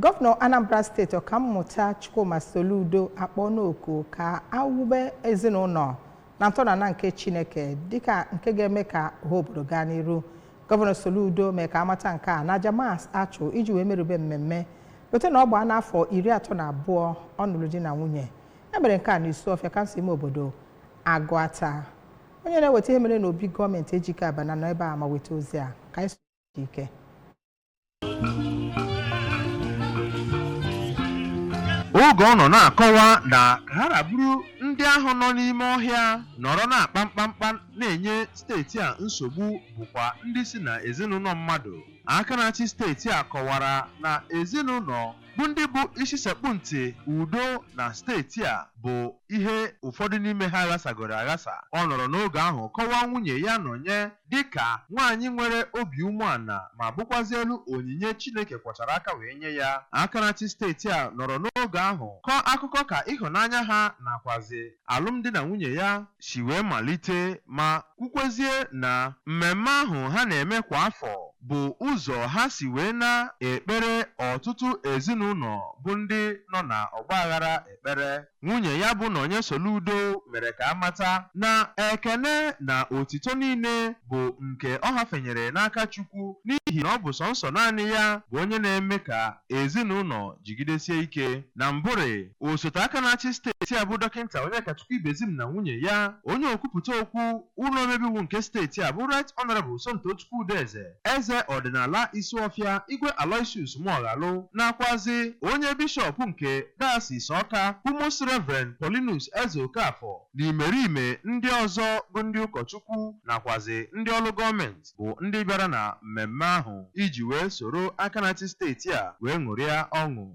Gọvanọ Anambra steeti Ọkammụta Chukwuma Soludo akpọọna oku ka a wube ezinụlọ na ntọala nke Chineke dịka nke ga-eme ka ọha obodo gaa n'iru. Gọvanọ Soludo mee ka a mata nke a n'aja mas a chụ iji wee merube mmemme lote na ọ gbaana afọ iri atọ na abụọ ọ nụrụ di na nwunye. E mere nke a n'Isuọfịa kansụl ime obodo Agụata. Onye na-eweta ihe mere n'obi gọọmenti Ejike Abana nọ ebe a ma weta ozi a ka anyị so ike. oge ọ nọ na-akọwa na ka ha ra bụrụ ndị ahụ nọ n'ime ọhịa nọrọ na-akpa mkpamkpa na-enye steeti a nsogbu bụkwa ndị si na ezinụlọ mmadụ aka na-achị steeti a kọwara na ezinụlọ bụ ndị bụ isi sekpụ ntị udo na steeti a bụ ihe ụfọdụ n'ime ha ghasagoro aghasa ọ nọrọ n'oge ahụ kọwaa nwunye ya Nonye Dịka nwaanyị nwere obi umeala ma bụkwazielu onyinye Chineke kwọchara aka wee nye ya, aka na-achị steeti a nọrọ n'oge ahụ kọọ akụkọ ka ịhụnanya ha nakwazị alụmdi na nwunye ya si wee malite ma kwukwezie na mmemme ahụ ha na-eme kwa afọ bụ ụzọ ha si wee na-ekpere ọtụtụ ezinaụlọ bụ ndị nọ na ọgbaaghara ekpere. Nwunye ya bụ Nonye Soludo mere ka a mata na ekene na otito niile bụ nke ọ hafenyere n'aka Chukwu n'ihi na ọ bụ sọnsọ naanị ya bụ onye na-eme ka ezinaụlọ jigidesie ike. Na mbụrị, osote aka na-achị steeti a bụ Dọkịnta Onyekachukwu Ibezim na nwunye ya, onye okwupụta okwu ụlọ omebe iwu nke steeti a bụ Right Honourable Somtochukwu Udeze, Eze ọdịnala Isuọfịa, Igwe Aloysius Muoghalu, nakwazị onye Bishọp nke Dayọsis Ọka, bụ Most Reverend Paulinus Ezeokafor, na imerime ndị ọzọ bụ ndị ụkọchukwu nakwazị ndị ọrụ gọọmenti bụ ndị bịara na mmemme ahụ iji wee soro aka na-achị steeti a wee ṅụrịa ọṅụ.